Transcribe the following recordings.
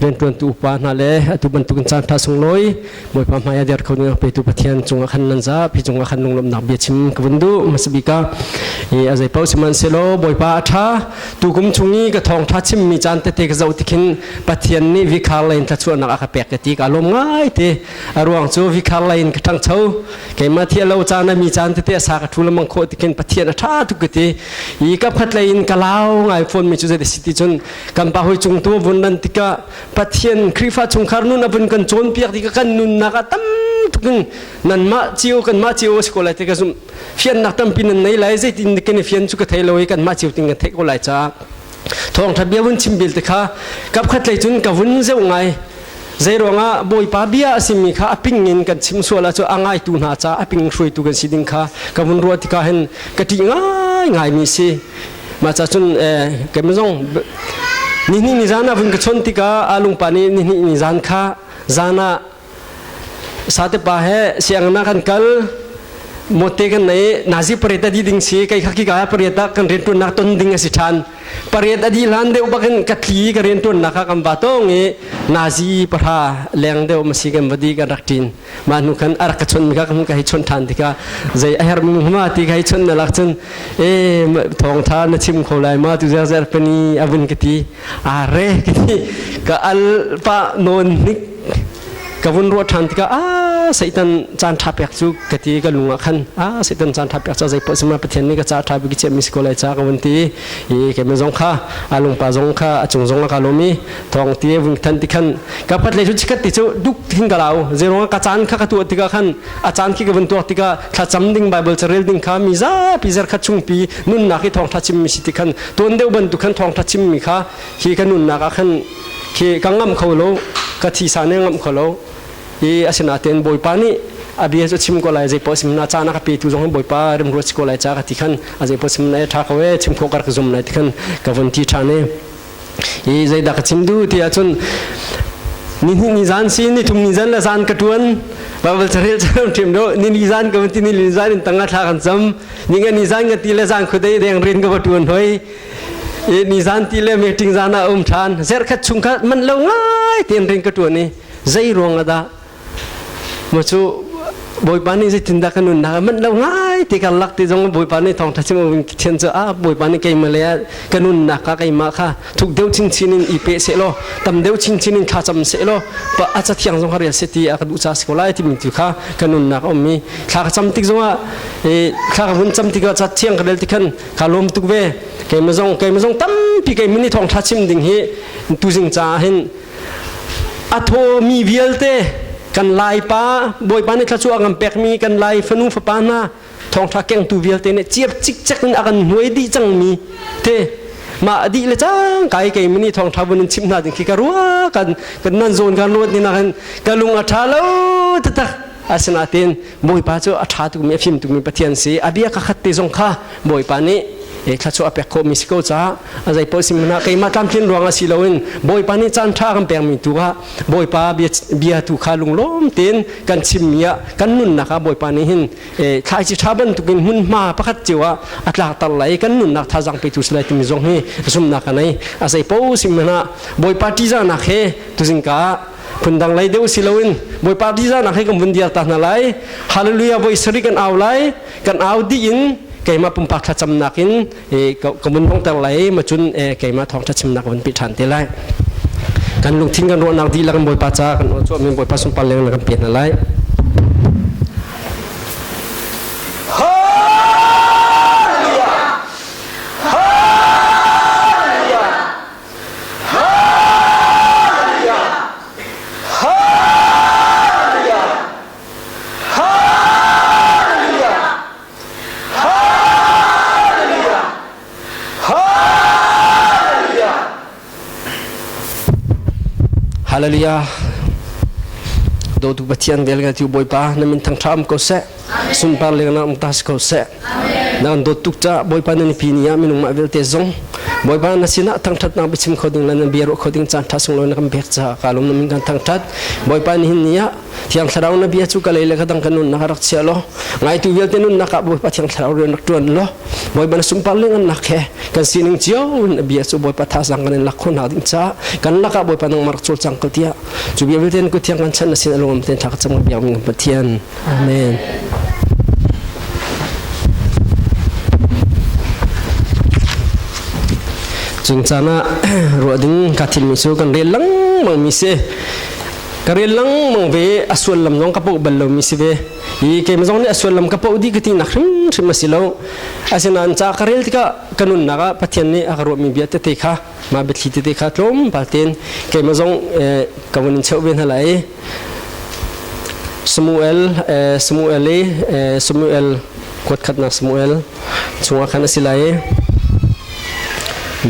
riantuantu upa hna le atu bantukin caan ṭha sunglawi bawipa hmai ah der kho ding petu pathian cungah khan nan za pi cungah khan lunglawmhnak bia chim ka vun duh masabika i azai pau sihmanhsehlaw bawipa a ṭha tukum chung i ka thawng ṭha chimmi caan tete ka zoh tikhin pathian nih vikhar lain thlachuahnak a ka pek ka ti ka lawm ngai te a ruang cu vikhar lain ka ṭhangcho keimah thi lo caan a mi caan tete a sa ka ṭhu lamang khawh tikhin pathian a ṭha tuk ka ti i ka phat lain ka lau ngai phone mi cu zai si ti cun kan pa hoi cung tu vun nan tikah pathian khrifa chungkhar nun avun kan cawn piak ti kan nunnak a tam tukin nan mah cio kan mah cio si ko lai te ka zum fian nak tampi nan nei lai zeitin ken fian chu ka thei lo kan mah cio ting ka thei ko lai cha thong tha bia vun chim bil te kha kap khat lei chun ka vun zeu ngai zeiruanga bawipa bia asimi kha aping in kan chim suala chu angai tu hna cha aping shui tu kan si ding kha ka vun ruwa tika hen ka ti ngai ngai mi si Mah ca cun keimah zong nihnih ni zan ah vun ka chawnh tikah alungpa nih nihnih ni zan kha zan ah satepa he siangna kan kal mote kan nei nazi pariat adi ding si kai khaki ka pariat ah kan rian tuannak ton ding asi than pariat adi hlan deuh bakin katli ka rian tuannak ka kan ba tong i nazi para leng deuh masi kan vadi kan rak tin mah hnu khan arak ka chon ka kam ka hi chon than tikah zei a hermi ma ti ka hi chon na lak cun e thawng tha na chim kho lai ma tu zer zer pani avun ka ti are ka ti ka al pa non hnik ka vun ro than tikah a satan chan tha pek chu ka ti ka lunga khan a satan chan tha pek cha zai po sima pathian ni ka cha tha bi ki che mi ko lai cha ka vun ti i ke me zong kha alung pa zong kha a chung zong ka lomi thong ti vung than ti khan ka phat le chu chikat ti chu duk hin ka lau zero ka chan kha ka tu tika khan a chan khi ka vun tuak tika thla cham ding bible cha rel ding kha mi za pi zer kha chung pi nun na ki thong thla chim mi si ti khan ton deu ban tu khan thong thla chim mi kha hi ka nun na ka khan khi ka ngam kho lo ka thi sa ne ngam kho lo i asina ten boy pa ni abia chu chim ko lai je posim na cha na ka pe tu jong boi pa rem ro chi ko lai cha ka ti khan aje posim na tha ko e chim kho kar zom lai ti khan ka von ti tha ne i zeidah ka chim duh ti ahcun ni hnih ni zan si ni thum ni zan le zan ka tuan babal charel charam ṭhim do ni ni zan ka van ti ni ni zan in tanga thla kan cham ni nga ni zan nga ti le zan khudei deng rin ka va tuan hoi i ni zan ti le meeting zan ah um ṭhan zerkhat chung kha man lo ngai ten rin ka tuan i zei ruang adah Maw cu Bawipa nih zeitindah kan nunnak a manh lo ngai ti kan lak ti zong Bawipa nih thawngtha chim in Pathian cu ah Bawipa nih keimah le ka nunnak kha keimah kha thuk deuh chinchin in i pe seh law tam deuh chinchin in thla cam seh law a ca thiang zong ka rel seh ti a ka duh ca si ko lai timi tu kha ka nunnak a um i thla ka cam tik zong ah thla ka vun cam tik ah ca thiang ka rel ti khan ka lawm tuk ve keimah zong keimah zong tampi keimah nih thawngtha chim ding hi tuzing caah hin a thawmi vialte kan laipa bawipa nih thlacu a kan pekmi kan lai fanu fapa hna thawngtha kengtu vialte nih ciap cikcek in a kan hnuai dih cangmi te mah dih le cang kai kai mani thawngtha bun in chim hna ding khi ka rua kan kan nan zawn kan ruat ni na kan ka lung a tha lo tatak asina ten Bawipa cu a ṭha tukmi a fim tukmi Pathian si a bia kha khat te zong kha Bawipa nih thla chu a pek khawhmi si ko caah a zei paoh si hmanah keimah tlamtlin ruangah si loin Bawipa nih caan ṭha kan pekmi tu kha Bawipa bia tu kha lunglawm tein kan chimmi ah kan nunnak ah Bawipa nih hin thlaici ṭha bantukin hmunhma pakhat cio ah a tlakter lai i kan nunnak thazang petu si lai timi zong hi zumhnak ka nei a zei paoh si hmanah Bawipa ṭihzahnak he tuzingka ah phundang lei deuh si loin bawipa diza nak kan vun dial ta hna lai hallelujah voi sari kan au lai kan au di in keima pumpak thlacam nakin ka mun hong ter lai ma cun keima thong thlacim nak vun pi than te lai kan lungthin kan ruahnak di la kan bawipa ca kan ol chuah min bawipa sum pal leng la kan pe hna lai hallelujah dotu pathian vel nga tiu bawipa na min thang thram ko seh Sungpar lenglang um ta si ko seh. Na kan dawt tuk ca Bawipa nan pi ni ah minung mah vialte zong Bawipa na sinah thangthat na bichim kho ding le na bia ruah kho ding caan tha sunglo na kan pek ca kalum na min kan thangthat Bawipa ni hin ni ah thiang thlarau na bia cu kalei le kadang kan nun na rak chia lo ngai tu vialte nun nak ah Bawipa thiang thlarau rian rak tuan lo Bawipa na sungpar lengan nak he kan sining cio na bia cu Bawipa tha sang kan in lak khon ha ding ca kan lak ah Bawipa nang marak chul chang ko tia cu bia vialte na ku thiang kan chan na sin alom ten thak cham ga bia min kan Pathian Amen. Cung caan ah ruah ding ka thilmi cu kan rel langmang mi si. Ka rel langmang ve a suallam zong ka poh bal lo mi si ve. I keim zong nih a suallam ka poh di ka ti nak hrimhrim a si lo. Asinain ca ka rel tikah ka nunnak ah Pathian nih a ka ruahmi bia tete kha mah biathli tete kha tlawmpal ten keimah zong ka vun in cheu ve hna lai Samuel Samuel Samuel kuat khat nak Samuel chunga khan asilai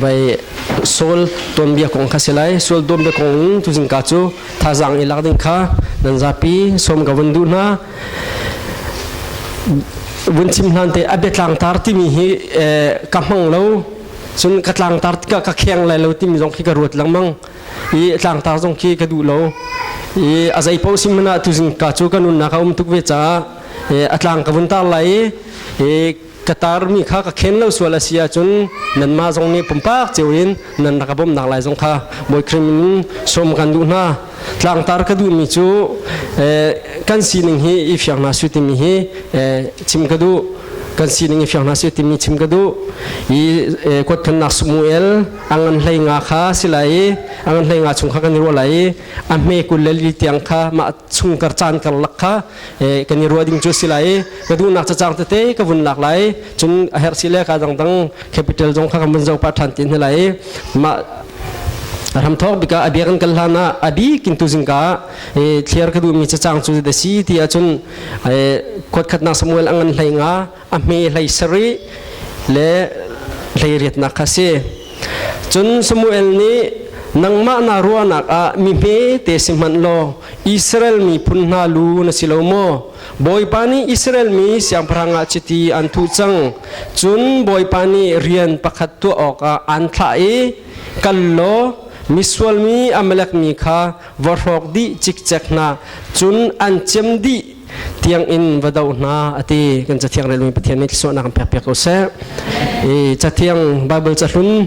bai sol tonbia kong kha silai sol tonbia kong tu zingka chu thazang i lak ding kha nan zapi som ka vun du na vun chim hlan te abe tlang tar timi hi ka mang lo cun ka tlangtar tikah ka kheng lai lo timi zong khi ka ruat lengmang i tlangtar zong khi ka duh lo i a zei paoh sim hmanah tuzing ka cu ka nunnak a um tuk ve caah a tlang ka vun tar lai i ka tarmi kha ka khen lo sual a si ahcun nanmah zong nih pumpak cio in nan rak ka bawmhnak lai zong kha bawi krim in sawm kan duh hna tlangtar ka duhmi cu kan sining hi i fiang hna su timi hi chim ka duh kan sining i fiang hna su timi chim ka duh i kuat thannak Samuel angan hlei nga kha silai i angan hlei nga chung kha kan i ruah lai i a hme kul le li tiang kha mah chung kar caan kar lak kha Eh, kan i ruah ding cu si lai i ka duhnak cacang tete ka vun lak lai cun a herh si le ka dangdang capital zong kha kan vun zoh pah ṭhan ti hna lai mah ram thawk bika abia kan kal hlan ah abik in tuzing ka thliar ka duhmi cacang cu da si ti ahcun kuat khatnak Samuel angan hlai nga a hme hlei sarih le hlei riatnak kha si cun Samuel nih nangmah na ruahnak ah mi hme te si hmanh law Israel miphun hna lu na si lo maw Bawipa nih Israel mi siangpahrang ah chiti an thuh cang cun Bawipa nih rian pakhat tuah awkah an thlah i kal law misual mi Amalek mi kha va hrawk dih cikcek hna cun an cem dih tiangin va doh hna a ti kan cathiang relmi pathian nih thluachuahnak kan pekpiak ko seh i cathiang bible cahlun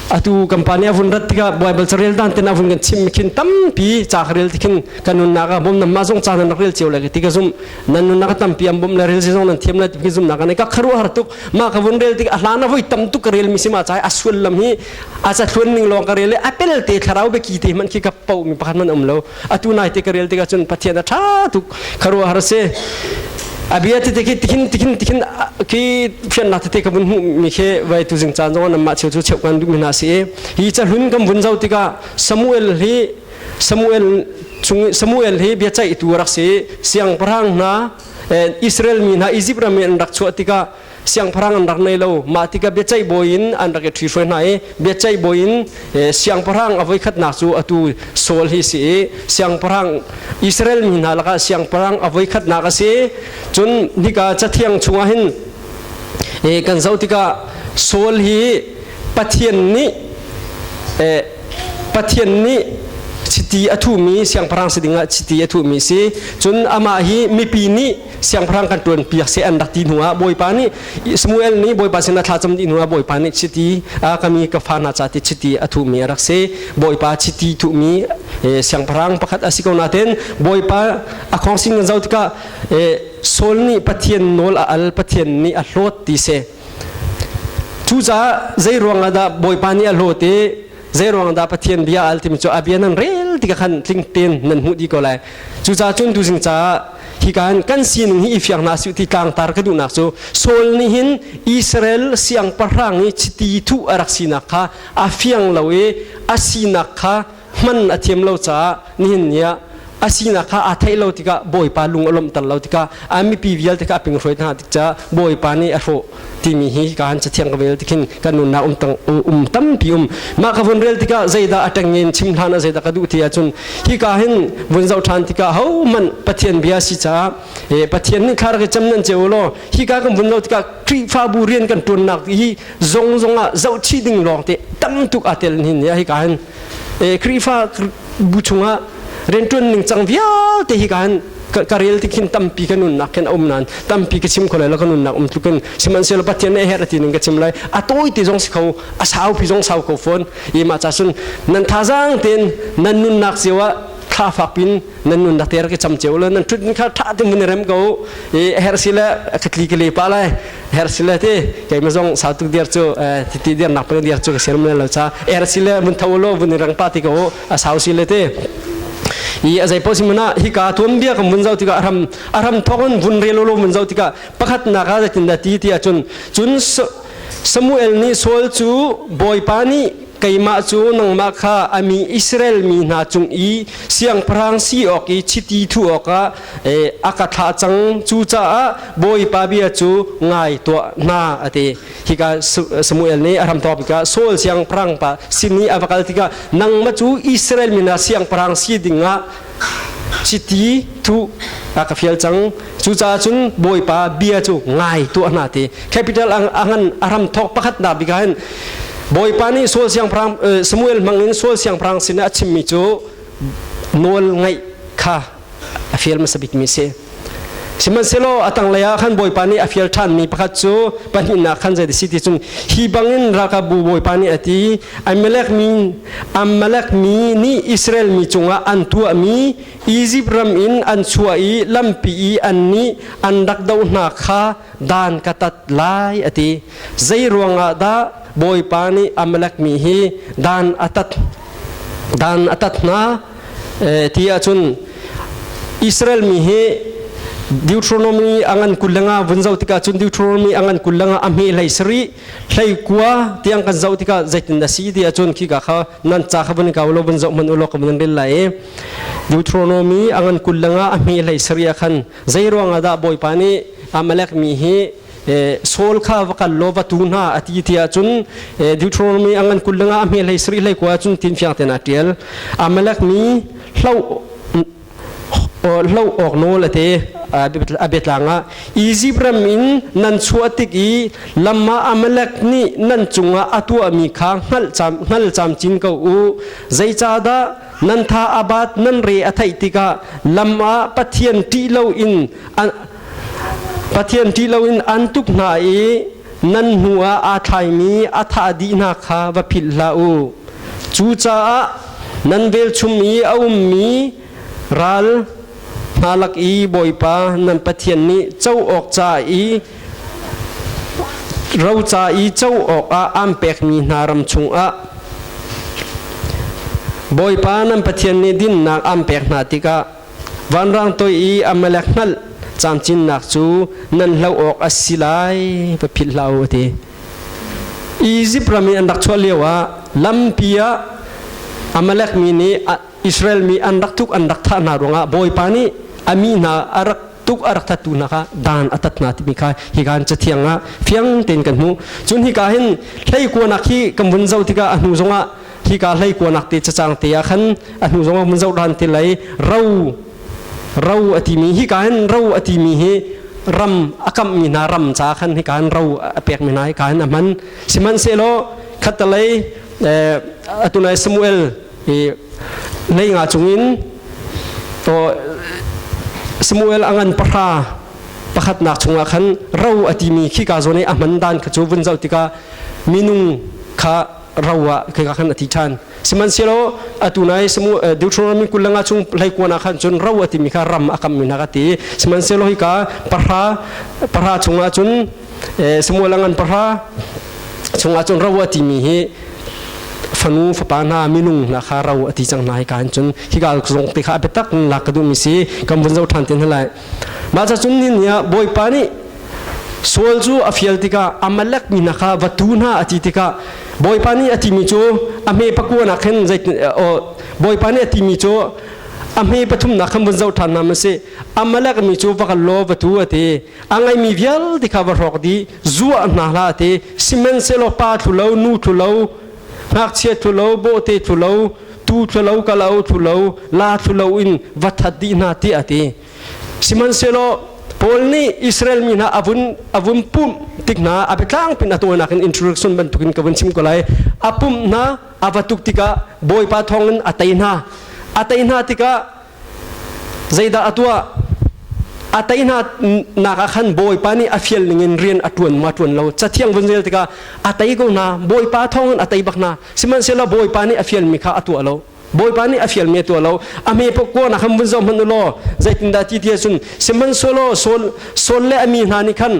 atu kan pa nih a vun rat tikah bible carel dan ten a vun kan chim khin tampi ca ka rel tikhin kan nunnak ah bom nam ma zong ca nan rak rel cio le ti ka zum nan nunnak a tampi am bom le rel si zong nan thiam le ti zum nak ne ka kharu har tuk ma ka vun rel tikah hlan a voi tam tuk ka rel mi sima chai asual lam hi a ca thluan ning long ka rel le apel te thlarau be ki te man khi ka pau mi pakhat man um lo atu nai te ka rel tikah cun pathian a tha tuk kharua har se abia te khi tihin tihin tihin khi phian na te ka bun mu mi khe vai tu jing chan zong nam ma cheu chu cheu kan du na si e hi cha hlun kam bun zau tika samuel hi samuel chung samuel hi bia chai tu rak si siang parang na israel mi na egypt ram in rak chu tika siangpahrang an rak nei lo mah tikah biaceih bawi in an rak i ṭhi hruai hna i biaceih bawi in siangpahrang a voikhatnak cu atu Saul hi si i siangpahrang Israel mi hna lakah siangpahrang a voikhatnak a si cun nika cathiang chungah hin kan zoh tikah Saul hi Pathian nih Pathian nih chiti a thuhmi siangpahrang si dingah chiti a thuhmi si cun amah hi mipi nih siangpahrang kan tuan piak se an rak ti hnu ah bawipa nih Samuel nih bawipa sin a thlacam dih hnu ah bawipa nih chiti a kami ka fa hna ca ti chiti a thuhmi a rak si bawipa chiti thuhmi siangpahrang pakhat a si ko naten bawipa a khawngsing kan zo tikah Saul nih Pathian nawl a al Pathian nih a hlawt ti se cucaah zei ruang ah dah bawipa nih a hlawt i zeiruang dah pathian bia al timi cu a bia nan rel ti khan tling tein nan hmuh dih ko lai cucaah cun tu zing caah hi kan kan sining hi i fiang hna su ti tlangtar ka duhnak cu Saul nih hin Israel siangpahrang i chiti thu a rak sinak kha a fiang lo i a sinak kha hman a thiam lo caah nihin ni ah a sinak kha aa theih lo tikah bawipa lung a lawmhter lo tikah a mipi vialte kha a ping hruai hna tik caah bawipa nih a hrawh timi hi ka han cathiang ka vel tikhin kan nunnak um um tampi um mah ka vun rel tikah zeidah a teng in chim hlan a zeidah ka duh ti ahcun hi ka hin vun zoh than tikah ho man pathian bia si caah eh, pathian nih khar ka cham nan ce law hi ka kan vun lo tikah khrihfabu rian kan tuannak hi zong zong ah zoh ding lawng te tam tuk a tel hin ya hi ka hin Khrihfa bu chungah rianṭuan ning cang vialte hi kan ka rel ti khin tampi ka nunnak khin a um nan tampi ka chim ko lai la ka nunnak um tlukin sihmanhsehlaw pathian ne her ati ning ka chim lai a tawi ti zong si kho a sau pi zong sau ko fon ima cha sun nan thazang ten nan nunnak cio ah thla fak pin nan nun dak ter ke cham cheu le nan tut ni kha tha te mun rem ko i her sile khatli ke le pa lai her sile te ke ma zong sa tu der chu ti ti der nak pe der chu ka serm lo cha er sile mun thaw lo bun rang pa ti ko a sau sile te i azai po simana hi ka tuam bia kam vun zau tika aram aram thon vun relo lo mun zau tika pakhat na ka zatin da ti ti achun chun Samuel ni sol chu boypa ni keimah cu nangmah kha a mi Israel mi hna cung i siangpahrang si awk i chiti thu awkah a ka thlah cang cucaah Bawipa bia cu ngai tuah hna a ti hika Samuel nih a ram tawp tikah Saul siangpahrang pa sin i a va kal tikah nangmah cu Israel mi hna siangpahrang si dingah Chiti thuh a ka fial cang. Cucaah cun Bawipa bia cu ngai tuah hna ti. Capital a ngan a ram thawk pakhatnak bika hin Bawipa nih Saul siangpahrang Samuel hmang in Saul siangpahrang sin a chimmi cu nawl ngaih kha a fial hmasa bikmi a si. Sihmanhsehlaw a tanglei ah khan Bawipa nih a fial ṭhanmi pakhat cu pahnihnak khan zei si ti cun hi bangin rakabu Bawipa nih a ti i Amalek mi Amalek mi nih Israel mi cungah an tuahmi Izipt ram in an chuah i lampi i an nih an rak doh hna kha dan ka tat lai a ti. Zei ruangah dah Bawipa nih Amalek mi hi dan a tat dan a tat hna? ti ahcun Israel mi hi Deuteronomy angan kulanga vun zoh tikah cun Deuteronomy angan kulanga a hme hlei sari hlei kua tiang kan zoh tikah zeitin na si ti ahcun khi ka kha nan cha kha van kau lo van zoh man ulo ka van ril lai Deuteronomy angan kulanga a hme hlei sari a khan zei ruangah dah bawipa nih Amalek mi hi Saul kha va kal law va tu hna a ti ti ahcun Deuteronomy angan kul lengah a hme hlei sari hlei kua cun tin fiang ten a ṭial Amalek mi hloh hloh awk nawl a te a biatlang ah Egypt ram in nan chuah tik i lamma Amalek nih nan cungah a tuahmi kha hngal camcin ko u zeicahdah nan tha abat nan re a theih tikah lam ah pathian ṭih lo in Pathian ṭih loin aan tuk hna i nan hnuah aa thlaimi a thah dih hna kha va philh hlah u. Cucaah nan velchum i a ummi ral hna lak i Bawipa nan Pathian nih co awk ca i roca i co awkah aan pekmi hna ram chungah Bawipa nan Pathian nih dinnak aan pek hna tikah Vanrang toi i Amalek hngalh caancinnak cu nan hloh awk a si lai va philh hlah u a ti. Izipt ram i an rak chuah lio ah lampi ah Amalek mi nih Israel mi an rak tuk an rak thah hna ruangah Bawipa nih a mi hna a rak tuk a rak thattu hna kha dan a tat hna timi kha hi kan cathiang ah fiang tein kan hmuh cun hika hin hleikuanak hi kan vun zoh tikah a hnu zongah hi ka hleikuanak te cacang te ah khan a hnu zongah vun zoh ran te lei ro ro a timi hi ka hin ro a timi hi ram a kammi hna ram ca khan hi ka hin ro a pekmi hna hi ka hin a hman sihmanhsehlaw khatalei eh, atulai Samuel i neinga cungin to Samuel angan pahra pakhatnak chungah khan ro a timi khika zo ne a man dan kha chu vun zau tika minung kha ro ah khika khan a thi than sihmanhsehlaw atu nai Samuel Deuteronomy kulanga chung leikuana khan cun ro a timi kha ram a kam mi na ka ti sihmanhsehlaw hika pahra pahra chungah cun Samuel angan pahra chungah cun ro a timi hi fanu fapa hna minung hna kha ro a ti cang hna hika an cun hika zong te kha a biatak in lak ka duhmi si kan vun zoh ṭhan ten lai mah ca cung ni ni ah bawipa nih Saul cu a fial tikah Amalek mi hna kha va tu hna a ti tikah bawipa nih a timi cu a hme pakuanak khin zei bawipa nih a timi cu a hme pathumnak khan vun zoh ṭhan nam a si Amalek mi cu va kal law va tu a ti a ngaimi vialte kha va hrawk di zuah hna hla te sihmanhsehlaw pa thlulo nu thlulo ngakchia thlulo bawhte thlulo tu thlulo kalo thlulo la thlulo in va that dih hna ti a ti sihmanhsehlaw Paul nih Israel mi hna avun avun pum tik hna abe tlang pin atonak in introduction bantukin ka vun chim ko lai apum hna avatuk tikah bawipa thongin atai hna atai hna tikah zeidah a tuah a tei hna nak ah khan bawipa nih a fial ning in rian a tuan ma tuan lo cathiang vun zel tikah a tei ko hna bawipa thawng in a tei bak hna sihmanhsehlaw bawipa nih a fial mi kha a tuah lo bawipa nih a fial mi a tuah lo a me pok ko na kham vun zong hman ulaw zeitindah ti ti cun sihmanhselaw saul saul le a mi hna nih khan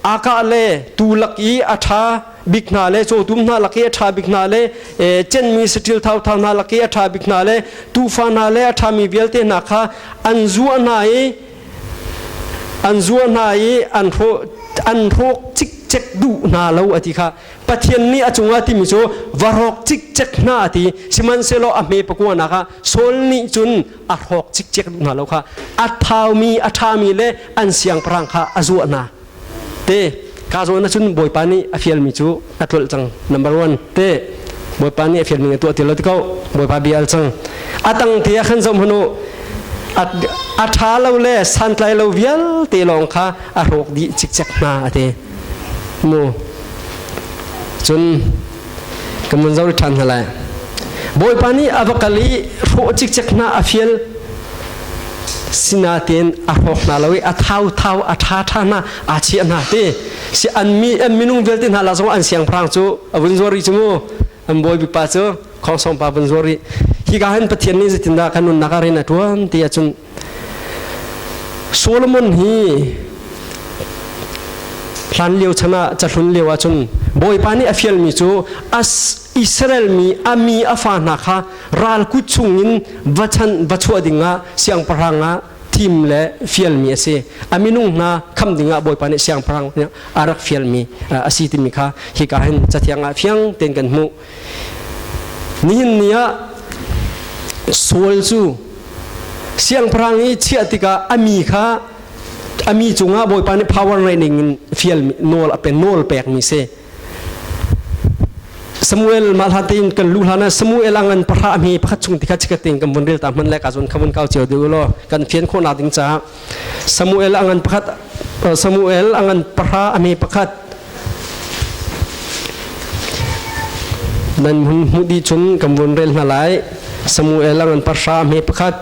akah le tu lak i a ṭha bik hna le cawtum hna lak i a ṭha bik hna le cenmi saṭil thauthau hna lak i a ṭha bik hna le tuufa hna le a ṭhami vialte hna kha an zuah hna i an zuah hna i an hrawh an hrawk cikcek duh hna lo a ti kha pathian nih a cungah timi cu va rawk cikcek hna a ti sihmanhsehlaw a hme pakua nak ah saul nih cun a hrawk cikcek duh hna lo kha a thaumi a ṭhami le an siangpahrang kha a zuah hna te ka zawn ahcun bawipa nih a fialmi cu a tlolh cang number one te bawipa nih a fialmi a tuah ti lo ti ko bawipa bia al cang a tang te ah khan zoh hnu a ṭha lo le santlai lo vialte lawng kha a hrawk dih cikcek hna a ti mu cun kan van zoh ṭhan hna lai bawipa nih a va kal i hrawh cikcek hna a fial sinatein a hrawk hna lo i a thauthau a ṭha ṭha hna aa chiah hna ti si an mi an minung vialte hna la zong an siangpahrang cu a vun zuar rih cu mu an bawipa cu khongsong pa vun zuar rih hi ka hin pathian nih zetindah kan nunnak ah rian a ṭuan ti ahcun Solomon hi hlan lio chan ah cahlun lio ah cun bawipa nih a fialmi cu as Israel mi a mi a fa hna kha ral kut chungin va chan va chuah dingah siangpahrang ah thim le fialmi a si a minung hna kham dingah bawipa nih siangpahrang nih a rak fialmi a si timi kha hika hin cathiang ah fiang tein kan hmuh Nihin ni ah sual cu siangpahrang i chiah tikah a mi kha a mi cungah Bawipa nih power ngeih ning in fial nawl a pe nawl pek mi si. Samuel mah hlan tein kan lu hlan ah Samuel ang an pahra hme pakhat chung tikha chikatin kan vun rel ta hman le ka zon kha vun kau cio deuh law kan fian khawhnak ding caah Samuel a ngan pakhat Samuel a ngan pahra a me pakhat nan hung hmu di cun kan vun rel hna lai Samuel a ngan pahra me pakhat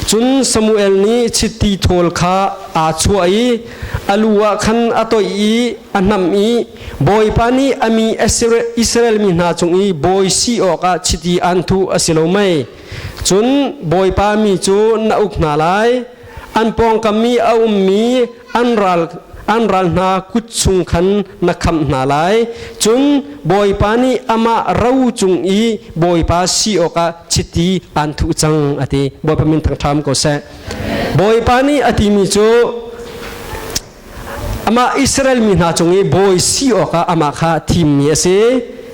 cun Samuel nih chiti thawl kha aa chuah i a lu ah khan a toih i a nam i bawipa nih a mi Israel mi hna cung i bawi si awkah chiti an thuh a si lo mei cun bawipa mi cu na uk hna lai an pawngkam i a ummi an ral an ral hna kut chung khan na khamh hna lai cun bawipa nih amah ro cung i bawipa si awkah chiti aan thuh cang a ti bawipa min thangṭham ko seh bawipa nih a timi cu Amah Israel mi hna cung i bawi si awkah amah kha thimmi a si.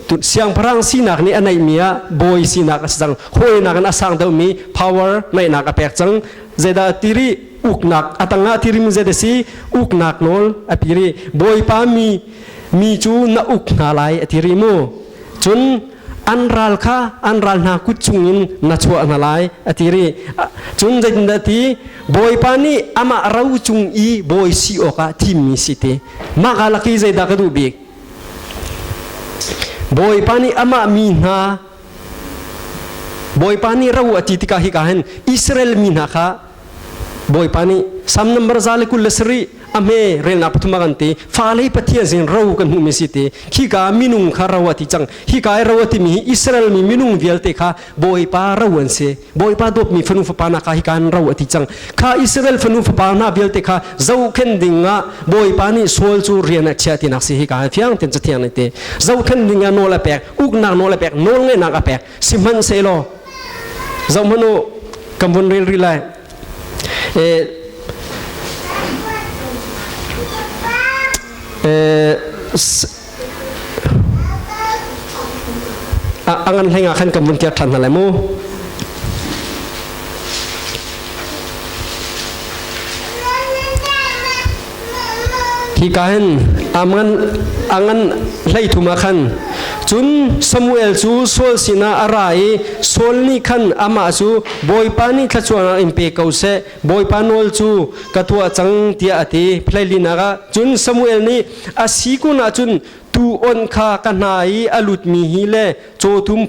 Tu siangpahrang sinak nih a neihmi ah bawi sinak a si cang. Hawinak in a sang deuhmi power neihnak a pek cang. Zeidah ti rih? Uknak a tangah tirim zet a si. Uknak nawl a pi rih. Bawipa mi mi cu na uk hna lai a ti rih mu. Cun an ral kha an ral hna kut chungin na chuah hna lai a ti ri cun zeitindah ti bawipa nih amah ro cung i bawi si awkah thimmi si te mah ka laki zeidah ka duh bik bawipa nih amah mi hna bawipa nih ro a ti tikah hi ka hin Israel mi hna kha bawipa nih sam nambar za le kul le sari a hme relnak pathum a kan ti fa lei pathian sin ro kan hmuhmi si ti khika minung kha ro a ti cang hika i ro a timi hi Israel mi minung vialte kha bawipa ro an si bawipa dawpmi fanu fapa hna kha hika an ro a ti cang kha Israel fanu fapa hna vialte kha zohkhen ding ah bawipa nih sual cu rian ah chia tinak si hika fiang ten cathiang ne te zohkhen ding ah nawl a pek uknak nawl a pek nawl ngenak a pek sihmanhsehlaw zohhmanh u kan vun ril ril lai eh, eh, angan hlenga khan kan vun tir ṭhan hna lai mu hi kain angan angan hlei thuma khan cun Samuel cu Saul sinah a ra i Saul nih khan amah cu bawipa nih thluachuahnak in pe ko seh bawipa nawl cu ka tuah cang tiah a ti phleilinak ah cun Samuel nih a si kun ah cun tu onh kha ka hna i a lutmi hi le cawtum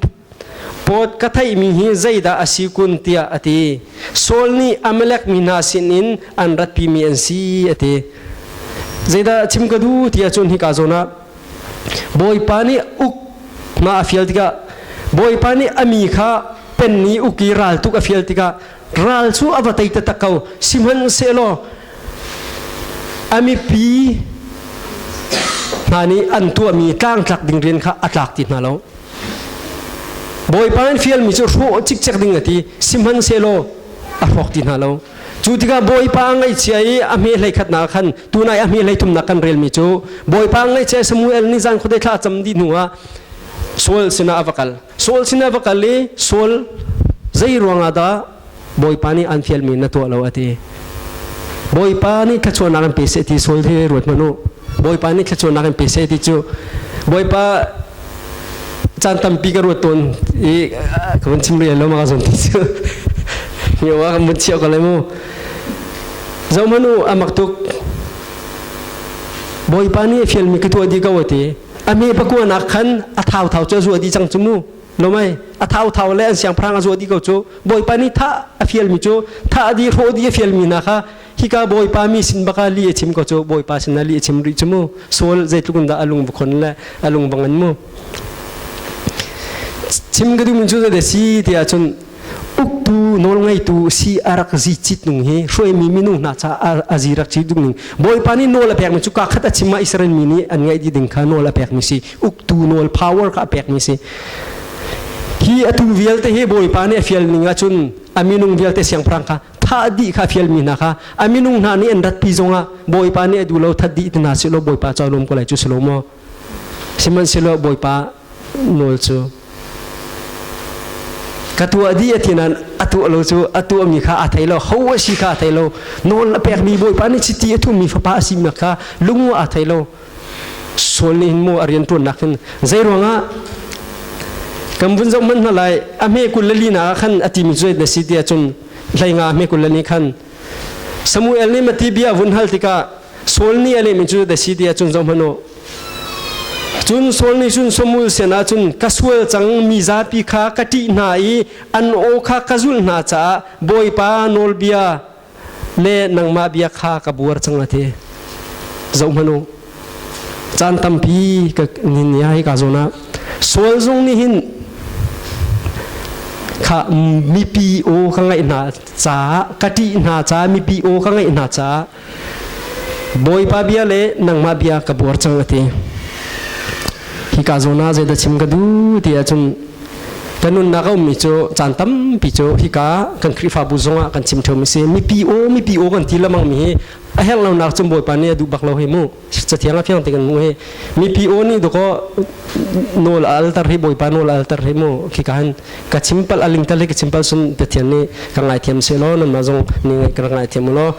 Poot ka theihmi hi zeidah a si kun tiah a ti. Saul nih Amalek mi hna sinin an ratpimi an si a ti. Zeidah chim ka duh ti ahcun hika zawn ah Bawipa nih uk hma a fial tikah Bawipa nih a mi kha pen i uk i ral tuk a fial tikah ral cu a va tei taktak ko sihmanhsehlaw a mipi hna nih an tuahmi tlangtlak ding rian kha a tlak ti hna lo bawipa in fialmi cu hrawh cikcek ding a ti sihmanhsehlaw a hrawk ti hna lo cu tikah bawipa ngaihchia i a hme hlei khatnak khan tunai a hme hlei thumnak kan relmi cu bawipa ngaihchia Samuel nih zan khuadei thla cam dih hnu ah Saul sinah a va kal Saul sinah va kal i Saul zei ruangah dah Bawipa nih an fialmi na tuah lo a ti. Bawipa nih thluachuahnak an pe seh ti Saul hi ruat hmanh u. Bawipa nih thluachuahnak an pe seh ti cu Bawipa caan tampi ka ruat tawn i ka vun chim rih lo ma ka zon ti cu mi wa kan vun chiah ko lai mu zo hmanu amak tuk Bawipa nih fialmi ka tuah di ko a ti ami pakuanak khan a thau thau cu a zuah dih cang cu mu lomai a thau thau le an siangpahrang a zuah dih ko cu bawipa nih tha a fial mi cu tha a di hrawh di a fial mi na kha hika bawipa mi sin baka li a chim ko cu bawipa sin a li a chim rih cu mu sol zeitluk da alung vukhon le alung bangan mu chim ka dumin cu da si tiah cun uktu nawlngeitu si a rak zi cit nung hi hruaimi minu hna ca a zi rak cit ning bawipa nih nawl a pekmi cu ka khat a chim a Israel mi nih an ngaih ding kha nawl a pekmi si uktu nawl power ka a pekmi si hi atu vialte hi bawipa nih a fial ning ahcun a minung vialte siangpahrang kha thah dih kha fial mi hna kha a minung hna nih an ratpi zongah bawipa nih a duh lo that dih hna si lo bawipa ca lawm ko lai cu si lo maw Sihmanhsehlaw Bawipa nawl cu ka tuah dih a tinan a tuah lo cu a tuah mi kha a thei lo ho a si kha a thei lo nawl a pek mi Bawipa nih chiti a thum mi fapa a si mi kha lung a thei lo sual nih hin maw a rian tuan nak hin zei ruangah kan vun zoh hmanh hna lai a hme kul lali na khan a ti mi cu na si ti cun hleinga hme kul lali khan Samuel nih mati bia vun hal tikah Saul nih a lehmi cu dasi ti ahcun zohhmanh u cun Saul nih cun Samuel sinah cun ka sual cang mi zapi kha ka ṭih hna i an aw kha ka zulh hna caah bawipa nawlbia le nangmah bia kha ka buar cang a ti zohhmanh u caan tampi ka ni ai ka zawn ah Saul zong nih hin kha mipi aw ka ngaih hna caah ka ṭih hna caah mipi aw ka ngaih hna caah Bawipa bia le nangmah bia ka buar cang ati hi ka zo na zeidah chim ka du ti ahcun kan nunnak a ummi cu caan tampi cu hika kan Khrihfabu zongah kan chim ṭheu mi si mipi aw mipi aw kan ti lamang mi hi a herh lonak cu Bawipa nih a duh bak lo hei mu cathiang a fiang tekin mu hi mipi o ni doko nol altar hi boipa nol altar hi mu khi kan ka chimpal aling tal ki chimpal sum te thian ni ka ngai thiam se lo nan ma zong ni ka ngai thiam lo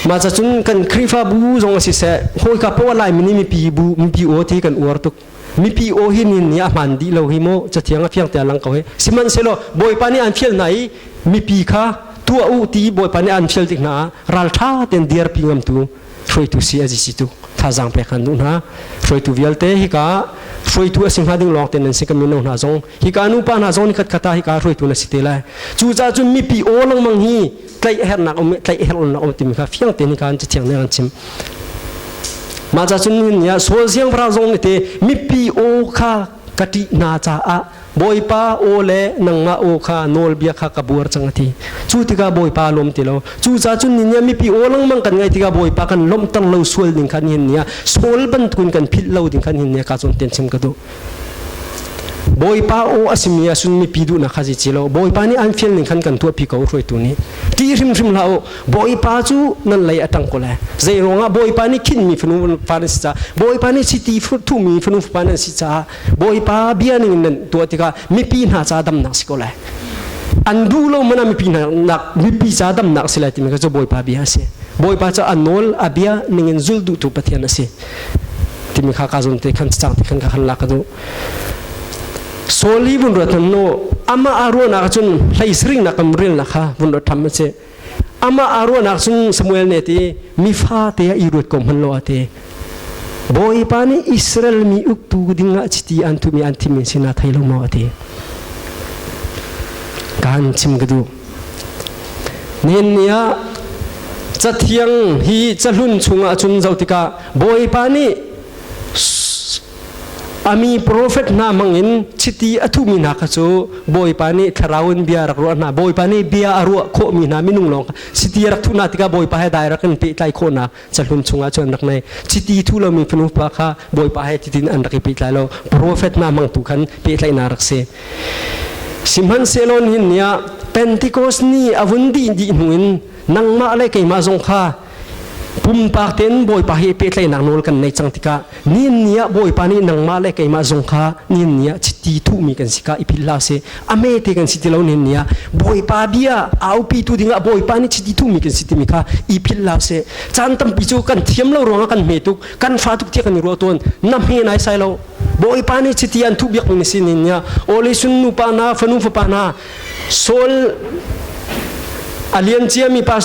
ma cha chun kan krifa bu zong si se hoi ka po lai mini mipi bu mipi o thi kan uar tuk mipi o hi nin ni a man di lo hi mo cathiang a fiang te lang ko hi siman se lo boipa ni an fiel nai mipi kha tua u ti boipa ni an fiel tik na ral tha ten diar pi ngam tu hruaitu si a si tu thazaang pek kan duh hna hruaitu vialte hika hruaitu a si hna ding lawng te nan si kamino hna zong hika nu pa hna zong ni khat khata hika hruaitu na si te lai cu ca cu mipi o langmang hi tlaih hernak um tlaih hernak um timi kha fiang te ni kan ci thiang ne kan chim ma cha chun ni ya sol siang pra zong ni te mipi o kha ka ṭih hna caah bawipa aw le nangmah aw kha nawlbia kha ka buar cang a ti cu tikah bawipa lawm ti lo cucaah cun ni nih mipi aw lengmang kan ngaih tikah bawipa kan lawmhter lo sual ding khan hin nia sual bantukin kan philh lo ding khan hin nia ka cun ten chim ka duh bawipa aw a simi ah cun mipi duhnak kha si ci lo bawipa nih an fial ning khan kan tuahpi ko hruaitu nih ti hrimhrim hlah u Bawipa cu nan lei a ṭang ko lai. Zei ruangah Bawipa nih khinhmi fanu fa nan si caah, Bawipa nih chiti thuhmi fanu fapa nan si caah, Bawipa bia ning nan tuah tikah mipi hna caah damnak si ko lai. An duh lo man ah mipi hna mipi caah damnak si lai timi kha cu Bawipa bia a si. Bawipa cu a nawl, a bia ningin zul duhtu Pathian a si. Timi kha ka zun te khan cang te khan ka khan lak ka duh. Saul hi vun ruat hmanh no, amah a ruahnak ah cun hlei sariknak in relnak kha vun ruat ṭham a si. amah a ruahnak sung Samuel ne ti mi fa te i ruat ko hman lo a ti bawipa nih Israel mi uktu dingah chiti an tu mi an thim min sina thei lo mo a ti kan chim ka du nen ni ah cathiang hi cahlun chungah cun zoh tikah bawipa nih a mi profet hna mangin chiti a thuhmi hna kha cu bawipa nih thlarau in bia rak ruah hna bawipa nih bia a ruah khawhmi hna minung lawng kha chiti a rak thuh hna tikah bawipa he direct in pehtlai khawh hna cahlun chungah cun an rak nei chiti thu lomi fanu pa kha bawipa he titin an rak i pehtlai lo profet hna mangtu khan pehtlaihna rak si sihmanhsehlaw nihin ni ah pentecost ni a vun dih dih hnu in nangmah le keimah zong kha pumpak tein Bawipa he pehtlaihnak nawl kan nei cang tikah nin ni ah Bawipa nih nangmah le keimah zong kha nin ni ah chiti thuhmi kan si ka i philh hlah seh a mete kan si ti lo nin ni ah Bawipa bia aupitu dingah Bawipa nih chiti thuhmi kan si timi kha i philh hlah seh caan tampi cu kan thiam lo ruangah kan hme tuk kan fa tuk tiah kan i ruah tawn na hme nai sai lo Bawipa nih chiti an thuh biak ning si nin ni ah Ole sun nupa na fanu fapa na Saul a lianciami pa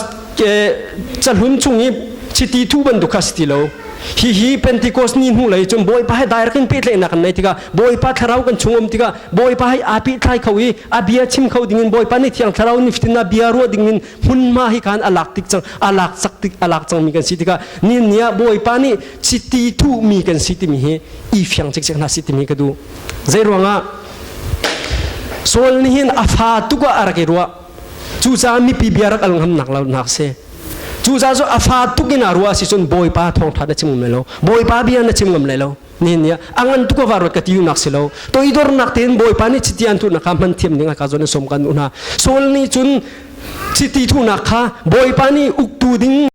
cahlun chung i chiti thu bantuk kha si ti lo hihi pentecost ni hnu lei cun bawipa he direct in pehtlaihnak kan nei tikah bawipa thlarau kan chung um tikah bawipa hai aa pehthlai kho i a bia chim kho dingin bawipa nih thiang thlarau niftin a bia ruah dingin hmunhma hi khan a lak tik cang a lak sak tik a lak cangmi kan si tikah ni ni ah bawipa nih chiti thuhmi kan si timi hi i fiang cikcek hna si timi ka duh Zeiruangah Saul nih hin a fa tuk ah a rak i ruah cucaah mipi bia rak al ngamnak nak si cucaah cu a fa tuk in a ruah si cun bawipa thawngtha na chim ngam lai lo bawipa bia na chim ngam lai lo nihin ni ah a ngan tuk a varuat ka ti nak si lo to i dornak tein bawipa nih chiti an thuhnak kha hman thiam ding ah ka zuan in sawm kan u hna Saul nih cun chiti thuhnak kha bawipa nih uktu ding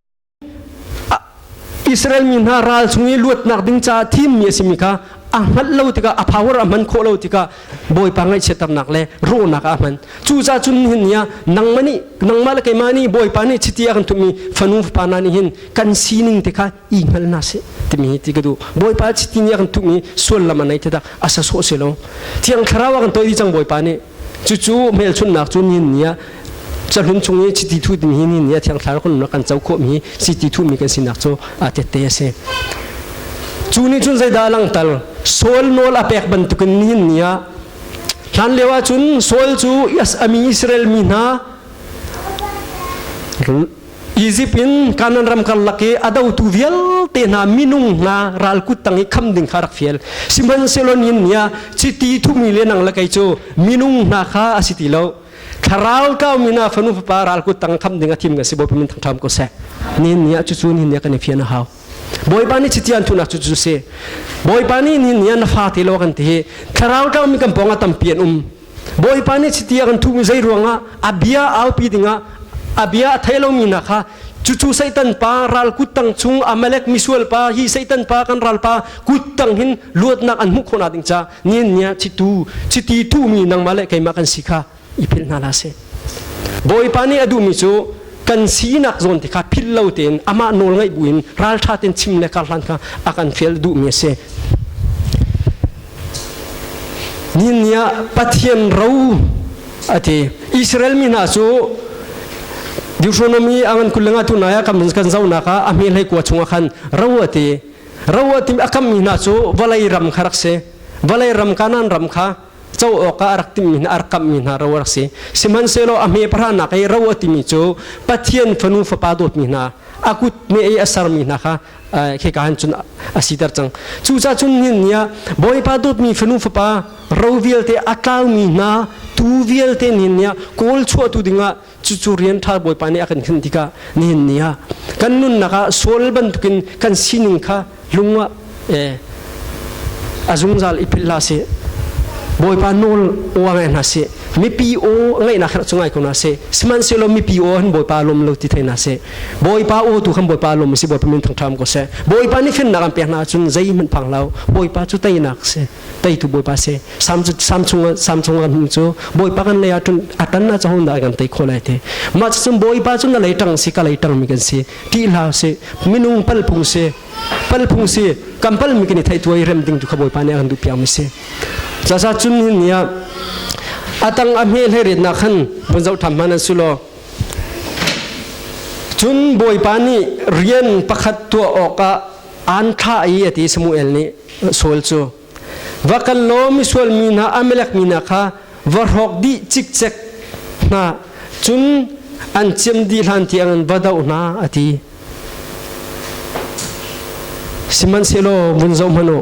Israel mi hna ral chung i luatnak ding caah thim mi a simi kha a hman lo tikah a power a hman khawh lo tikah Bawipa ngaihchiatternak le rawhnak ah a hman cucaah cun hin nia nangmah nih nangmah le keimah nih Bawipa nih chiti a kan tummi fanu fapa hna nih hin kan sining te kha i hngal hna seh timi hi ti ka duh Bawipa chiti nih a kan tummi suallam a nei ti dah a sa sawh se lo Thiang Thlarau a kan toi dih cang Bawipa nih Cucu hmelchunhnak cu ni ni ah cahlun chung i chiti thuh mi hi ni ni ah thiangthlar khonnak kan co khawh mi chiti thuh mi kan sinak cu a tette a si. Cu nih cun zeidah a langhter? Saul nawl a pek bantukin ni ni ah hlan lio ahcun Saul cu a mi Israel mi hna Egypt in Kanan ram karlak i a dotu vialte hna minung hna ralkut tang i kham ding kha rak fial sihmanhsehlaw nin nia chiti thumi le nang le kei cu minung hna kha a si ti lo thlarau kau min ah fanu fapa ralkut tang kham ding a thim nga si bo min thangthram ko se nin nia cu cu nin nia kan i fian a hau bawipa nih chiti an thunak cu cu si bawipa nih nin nia na fa te lo kan ti hi thlarau kau mi kan pong a tampi an um Bawipa nih chiti a kan thuhmi zei ruangah a bia aupi dingah a bia a thei lomi hna kha cucu Satan pa ral kut tang chung Amalek misual pa hi Satan pa kan ral pa kut tang hin luatnak an hmuh khawhnak ding ca nian nia chitu chiti thuhmi nangmah le keimah kan si kha i philh hna la seh Bawipa nih a duhmi cu kan sinak zawn ti kha philh lo tein amah nawl ngaih buin ralṭha tein chim le karhlan kha a kan fial duhmi a si. Nihin ni ah Pathian ro a ti. Israel mi hna cu Deuteronomy angan kulenga tunai ah kan kan zonak ah a hme hlei kua chungah khan ro a ti. Ro a ti a kammi hna cu vawlei ram kha rak si. Vawlei ram Kanaan ram kha co awkah a rak timmi hna a rak kamhmi hna ro a rak si sihmanhsehlaw a hme parhanak i ro a timi cu pathian fanu fapa dawtmi hna a kut me i a sermi hna kha khika han cun a siter cang cucaah cun hin ni ah bawipa dawtmi fanu fapa ro vialte a tlaumi hna tu vialte nih ni ah kawl chuahtu dingah cucu rian ṭha bawipa nih a kan hinh tikah nihin ni ah kan nunnak ah sual bantukin kan sining kha lung ah eh, a zungzal i philh hlah sih bawipa nawl oa ngai hna sih mipi aw ngaihnak khat cungai ko na se sihmanhsehlaw mipi aw han bawipa lom lo ti thei na se bawipa aw tu khan bawipa lom si bawipa min thangṭham ko se bawipa nih finnak an pek hna cun zei hmanh phang lo bawipa cu teinak se teitu bawipa se samchung samchung an cu bawipa kan lei atun atan na chahun da kan tei khol ai te ma chum bawipa chu na lei tang si ka lei tang mi kan si ti hla se minung pal phung se pal phung si kampal mi kini thai tuai rem ding tu kha bawipa ne an du piang mi se sa sa chun hin nia atang a me hlei ret na khan pun zau tham man sulo cun bawipa ni rian pakhat tua oka an tha ai ati samuel ni Saul cu va kal law misual mi hna Amalek mi hna kha va hrawk dih cikcek hna cun an ciam dih hlan tiang an va doh hna a ti. Sihmanhsehlaw vun zoh hmanh u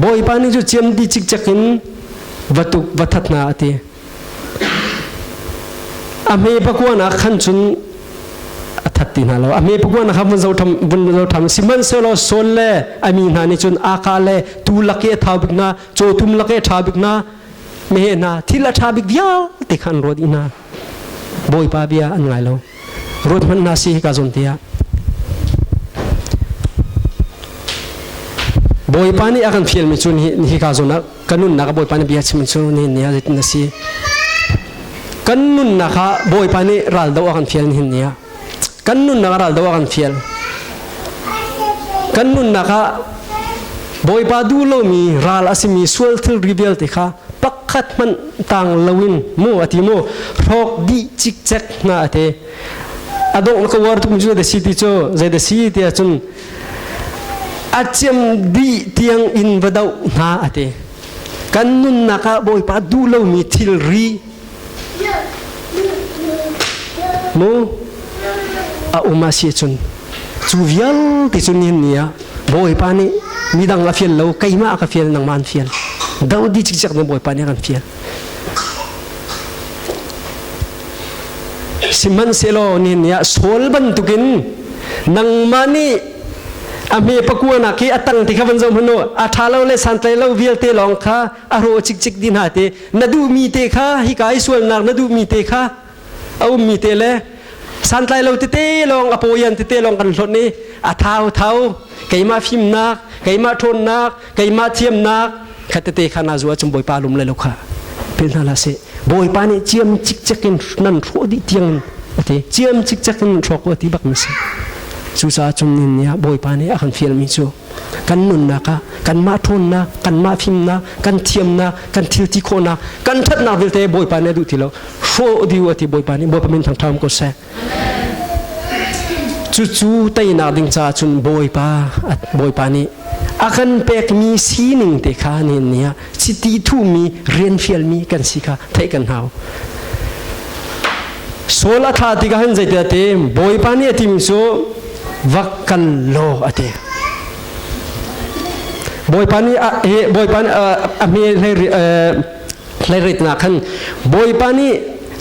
Bawipa nih cu ciam dih cikcek in va tuk va that hna a ti. A hme pakuanak khan cun a that ti hna lo. A hme pakuanak kha vun zotham vun zotham sihmanhsehlaw Saul le a mi hna nih cun aka le tu lake tha bik hna cawtum lake tha bik hna mehe hna thil a tha bik vialte kha an ruat i hna bawipa bia an ngai lo ruat hmanh hna si hika zawn tiah bawipa nih a kan fial mi cu hi ka zawn ah kan nunnak ah Bawipa nih bia chim in cu nihin ni ah zeitin a si kan nunnak ah Bawipa nih raldo a kan fial nihin ni ah kan nunnak ah raldo a kan fial kan nunnak ah Bawipa duh lomi ral a simi sual thilri vialte kha pakhat hmanh tang loin mu a ti mu hrok di cikcek hna a te a dongh ka war tuk mi cu da si ti cu zei da si ti ahcun a cem dih tiang in va doh hna a ti kan nunnak ah bawipa duh lomi thilri mu a um a si cun cu vialte cu nin ni ah bawipa nih midang a fial lo keimah ka fial nangman fial do di cikcek na bawipa nih kan fial Sihmanhsehlaw nihin ah Saul bantukin nangmah nih a hme pakuanak i a tang ti kha van zoh hmanh u a ṭha lo le santlai lo vialte lawng kha a rawh cikcik di hna te na duhmi te kha hika i sualnak na duhmi te kha a ummi te le santlai lo tete lawng a pawian tete lawng kan hlawt i a thau thau keimah fimnak keimah ṭhawnnak keimah thiamnak kha tete kha na zuwa cum bawipa lum le lo kha pe hna la se bawipa nih ciam cikcek in nan hrawh dih tiang a ti ciam cikcek in hrawk a ti bak na si cucaah cung nin nia bawipa nih a kan fialmi cu kan nunnak ah kanmah ṭhawnnak kanmah fimnak kan thiamnak kan thilti khawhnak kan ṭhatnak vialte bawipa nih a duh ti lo hrawh diu a ti bawipa nih bawipa min thangṭham ko seh cucu teinak ding caah cun bawipa bawipa nih a kan pekmi sining te kha nihin ni ah chiti thuhmi rianfialmi kan si kha theih kan hau sol a tha tikah hin zeitin a tim bawipa nih a timi cu vak kan law a ti bawipa nih a bawipa nih a hme hleiritnak khan bawipa nih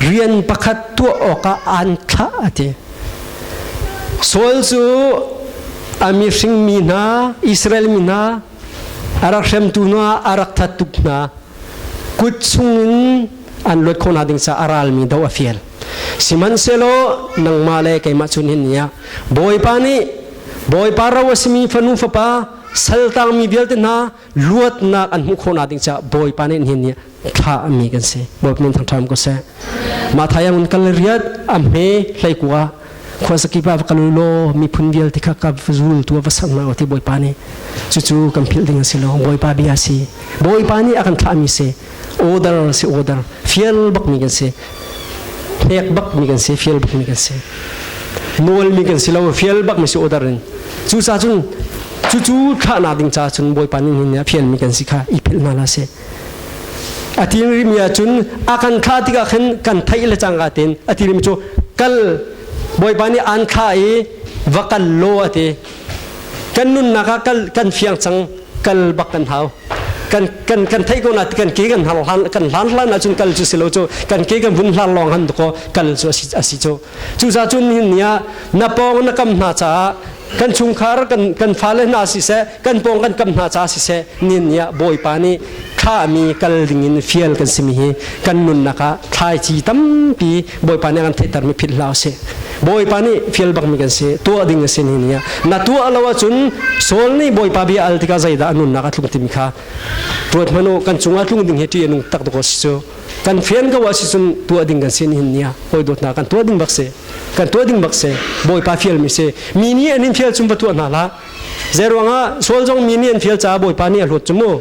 rian pakhat tuah awkah aan thlah a ti Saul cu a mihring mi hna Israel mi hna a rak hremtu hna a rak that tuk hna kut chungin an luat khawh hna ding ca a ralmi do a fial sihmanhsehlaw nangmah le keimah chun hin niah bawipa nih bawipa ro a simi fanu fapa saltangmi vialte hna luatnak an hmuh khawh na ding ca bawipa nih hin niah thahmi kan si movement thang ṭham ko seh ma thai ang kal riat am he hlei ku a khonsaki ba kal lo mi phun vial ti kha ka fuzul tu va sang na oti boipa ni chu chu kan phil ding si lo boipa bia si boipa ni akan tha mi se order si order fiel bak mi kan se nek bak mi kan se fiel bak mi kan se nual mi kan si lo fiel bak mi si order in chu sa chun chu chu tha na ding cha chun boipa ni ni phian mi kan si kha i phil na la se a tirimmi ahcun a kan thlah tikah khan kan theih le cangka tein a tirim cu kal bawipa nih aan thlah i va kal law a ti kan nunnak ah kal kan fiang cang kal bak kan hau kan kan kan thei ko na ti kan ke kan hlan kan hlan hlan ahcun kal cu silo cu kan ke kan vun hlan lawng han ko kal cu asi asi cu cusa cun ni ah na pawng na kam hna caah kan chungkhar kan kan fale hna si seh kan pawng kan kam hna ca siseh nin niah bawipa nih khami kal dingin fial kan simi hi kan nunnak ah thlaici tampi bawipa nih an theihtermi phit hla si bawipa nih fial bakmi kan si tuah ding a si ni niah na tuah lo ahcun sol nih bawipa bia al tikah zeidah a nunnak a tlung timi kha ruat hmanu kan cungah tlung ding hi ṭi a nung tak dok si cu kan fian ko asi cun tuah ding kan si ni hin nia hoi dot na kan tuah ding bak se kan tuah ding bak se bawipa fial mi se mi nih anin fial chung va tuah hna la Zei ruangah sual zong mi nih an fial caah Bawipa nih a hlut cu mu.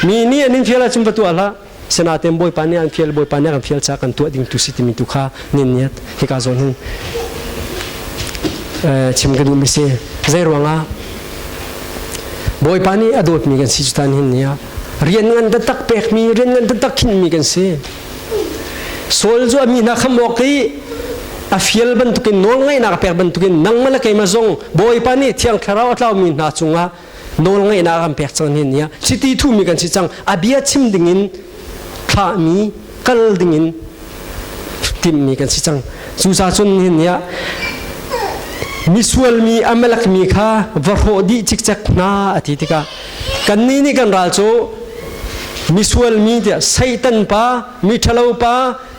Mi nih an in fial ahcun va tuah hlah. Sinaten Bawipa nih an fial, Bawipa nih a kan fial caah kan tuah ding tu si timi tu kha nin niat. Hika zawn hin chim ka duhmi si. Zei ruangah Bawipa nih a dawtmi kan si cu tan hin ni ah rian ngan taktak pekmi, rian ngan taktak khinhmi kan si. sual cu a mi na kham awk ti a fial bantukin nawl ngaihnak pek bantukin nangma le keima zong bawipa nih thiang thlarau a tlaumi hna cungah nawl ngaihnak an pek cang hin nia chiti thumi kan si cang a bia chim dingin thlahmi kal dingin timmi kan si cang cucacun hin nia misual mi amalak mi kha va hrawh dih cikcek hna a ti tikah kannih nih kan ral cu misual mi tiah satan pa miṭhalo pa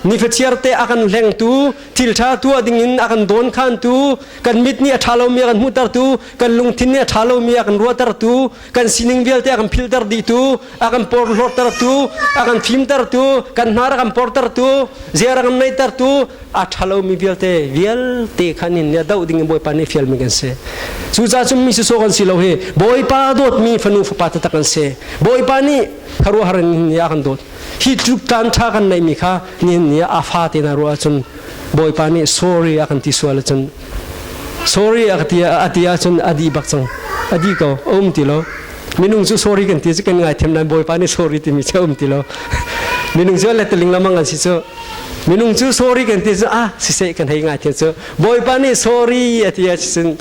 nifachiarte a kan hlengtu thilṭha tuah dingin a kan dawn khantu kan mit nih a ṭha lomi a kan hmuhtertu kan lungthin nih a ṭha lomi a kan ruahtertu kan sining vialte a kan philter dihtu a kan porhlawrtertu a kan fimtertu kan hnar a kan portertu ziar a kan neihtertu a ṭhalomi vialte vialte khan in a doh ding in Bawipa nih fialmi kan si cucaah cun mi sawsawh kan si lo hi Bawipa dawtmi fanu fapa taktak kan si Bawipa nih kharuahhar in ni a kan dawt hi tluk taan ṭha kan neihmi kha ni ni a fa te na ruah ahcun Bawipa nih sorry a kan ti sual ahcun sorry a ti a ti ahcun a dih bak cang a dih ko a um ti lo minung cu sorry kan ti cu kan ngaithiam nain Bawipa nih sorry timi cu a um ti lo minung cu let ling lamang an si cu minung cu sorry kan ti cu ah siseh kan hei ngai tin cu bawipa nih sorry a ti a cun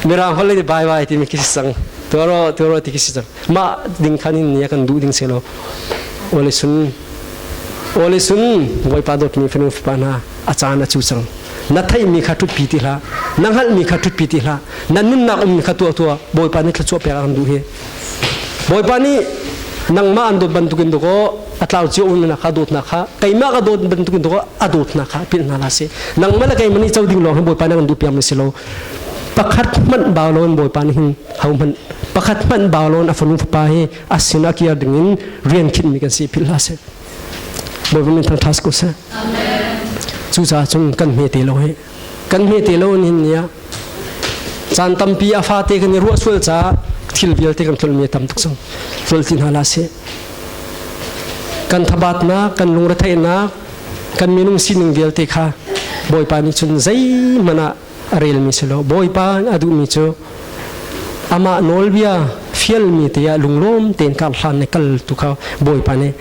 mirang holh le bai bai ti mi khi sang tuaro tuaro ti khi sang ma ding khan in nia kan duh ding se lo ole sun ole sun bawipa dawt mi fanu fapa hna a caan a chu sang na thai mi kha tut pi ti hla na ngal mi kha tut pi ti hla na nun nak um mi kha tua tua bawipa ni thla chuah pe kan duh hi Bawipa nih nangmah an dawt bantukin dawkaw a tlau cio umnak kha dawt na kha keimah ka dawt bantukin dawkaw a dawt na kha pil hna la si nangmah le keimah nih co ding lawng hin bawipa nih kan duh piang mi si lo pakhat hmanh bau loin bawipa nih hin ho hmanh pakhat hmanh bau loin a fanu fapa hi a sinah kiar dingin rian khinh mi kan si philh hla si bawipa min thang thas ko seh cucaah cun kan hme te lo hi kan hmete lo hin nia caan tampi a fate kan i ruah sual caah thil vialte kan tlolmi a tam tuk zong tlol ti hna la se kan thabatnak kan lungretheihnak kan minung sining vialte kha bawipa nih cun zeihmanh ah a relmi si lo bawipa a duhmi cu amah nawlbia fialmi te ah lunglawm tein kar hlan ne kal tu kha bawipa nih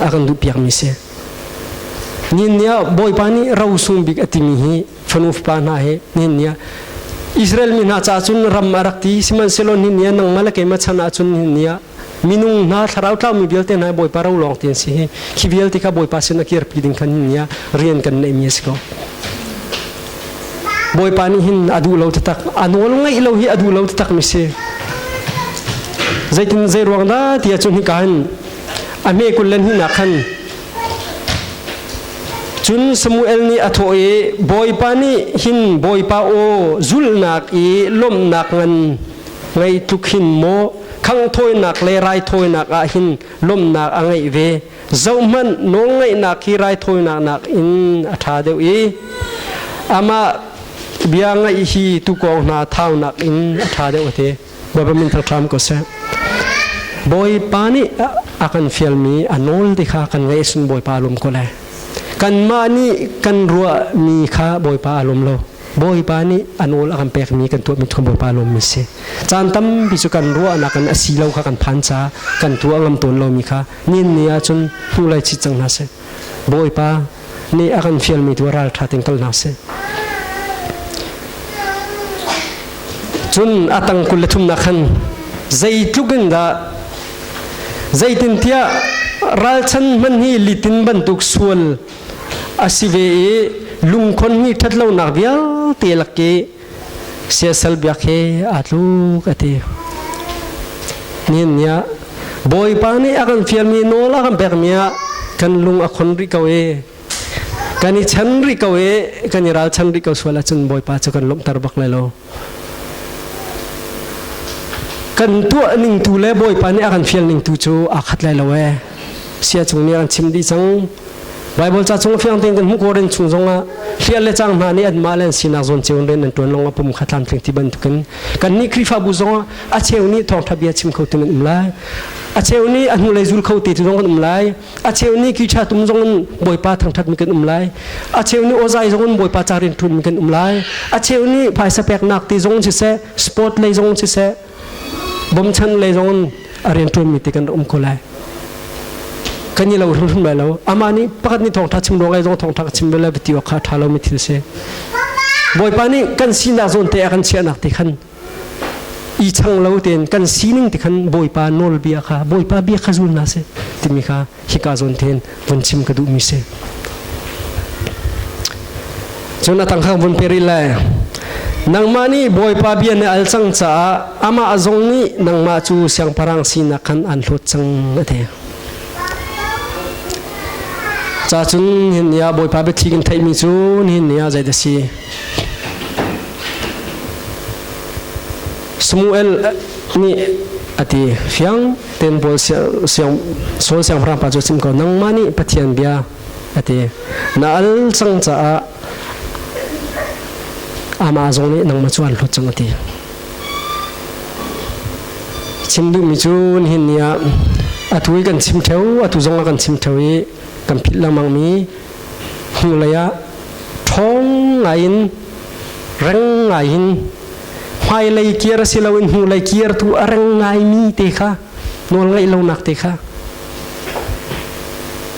a kan duh piakmi si Ninia Bawipa nih rosung bik a timi hi fanu fapa hna he ninia Israel mi hna ca cun ram a rak ti sihmanhsehlaw ninia nangmah le keimah chan ah cun ninia minung hna thlarau tlaumi vialte hna Bawipa ro lawng ti an si hi khi vialte kha Bawipa sin a kirpi ding khan ninia rian kan neihmi a si ko Bawipa nih hin a duh lo taktak a nawl ngaih lo hi a duh lo taktak mi si zeitin zei ruang dah ti ahcun hika hin a hme kul le hnunak khan cun Samuel nih a thawh i Bawipa nih hin Bawipa aw zulhnak i lawmhnak ngan ngei tluk hin maw khanghthawinak le raithawinak ah hin lawmhnak a ngeih ve zohhmanh nawlngaihnak hi raithawinak nakin a ṭha deuh i amah bia ngaih hi tuukawng hna thau nakin a ṭha deuh a ti government hram ko seh bawipa nih a kan fialmi a nawl ti kha kan ngaih sin bawipa lum ko le kanmah nih kan ruahmi kha bawipa a lum lo bawipa nih a nawl a kan pekmi kan tuah mit kha bawipa lum mi si caan tampi cu kan ruahnak in a si lo kha kan phan ca kan tuah ngam tawn lomi kha nin ni ahcun hnu lai chit cang hna seh Bawipa nih a kan fialmi tu ralṭha tein kal hna sih. Cun a tang kul le thumnak khan zeitluk in dah zeitintiah ralchan hman hi litin bantuk sual a si ve i lungkhon hi ṭhat lonak vialte lak i siasal biak he aa tluk a ti nin niah bawipa nih a kan fialmi nawl a kan pekmi ah kan lung a khon rih ko i kan i chan rih ko i kan i ralchan rih ko sual ahcun bawipa cu kan lawmhter bak lai lo kan tuah ning tu le bawipa nih a kan fial ning tu cu aa khat lai lo ee sia chung nih an chim dih cang Bible ca chung fiang tein kan hmuh ko ren chung zongah hlial le cang hna nih an mah le an sinak zawn ceu ren an tuan long a pum kha tlam tling ti bantukin kan nih Khrihfabu zongah a cheu nih thawngtha bia chim kho tin an um lai a cheu nih a hnu lei zul kho te tu zong kan um lai a cheu nih kicha tum zong in bawipa thangthat mi kan um lai a cheu nih ozai zong in bawipa ca rin thun mi kan um lai a cheu nih phaisa pek nak ti zong si se sport lei zong si se bomchan le zong a rian tuan mi te kan um ko lai kan ni lo hlum lai lo ama ni pakhat ni thongtha chim ro lai zong thongtha ka chim ve lai bati wa kha tha lo mi thil se boipa ni kan sinak zon te kan chia nak te khan i chang lo ten kan sining te khan boipa nol bia kha boipa bia kha zul na se timi kha hika zawn ten von chim ka duh mi si cun atang khang von peril lai nangmah nih bawipa bia na al cang caah amah zong nih nangmah cu siangparang sinak khan an hlawt cang ate cha cun hin ya bawipa biathli in theih mi cu hin ya zai da si Samuel nih ati fiang tenbual sual siangpahrang pa cu sim ko nangmah nih pathian bia a ti na al cang caah amah zong nih nangmah cu an hlut cang a ti chim duhmi cu nihin ni ah atu i kan chim theo atu zong ah kan chim theo i kan philh lengmang mi Hnulei ah ṭhawng ngaiin reng ngaiin hmailei kir si loin hnulei kirtu a reng ngaimi te kha nawl ngaih lonak te kha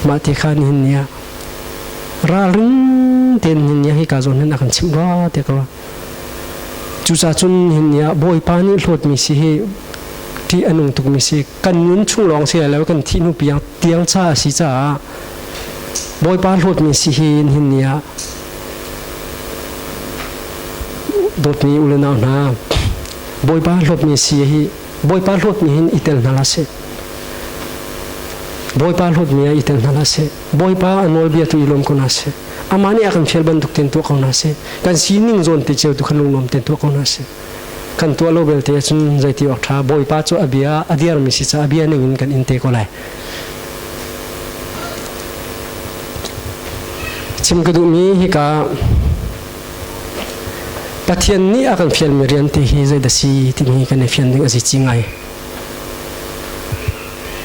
mah te kha nihin ni ah ralring tein nihin ni ah hika zawn hin a kan chimh rua te ko cucacun nihin ni ah bawipa nih hlawtmi si hi ṭih a nung tukmi si kan nun chung lawng si lo kan thih hnu piang tiang ca a si caah bawipa hlawtmi si hi hin ni ah dawtmi u le nau hna bawipa hlawtmi si hi bawipa hlawtmi hin i tel hna la seh bawipa hlawtmi i tel hna la seh bawipa a nawlbia tu i lawm ko na seh amah nih a kan fial bantuk ten tuah ko na seh kan sining zawn te ceu tu khan lungnuam ten tuah ko na seh Kan tuah lo belte cun zeiti awk ṭha Bawipa cu a bia a dirmi si caah a bia ning in kan in te ko lai. Chim ka duhmi hika Pathian nih a kan fialmi rian ti hi zeidah si timi kan i fian ding a si ci ngai.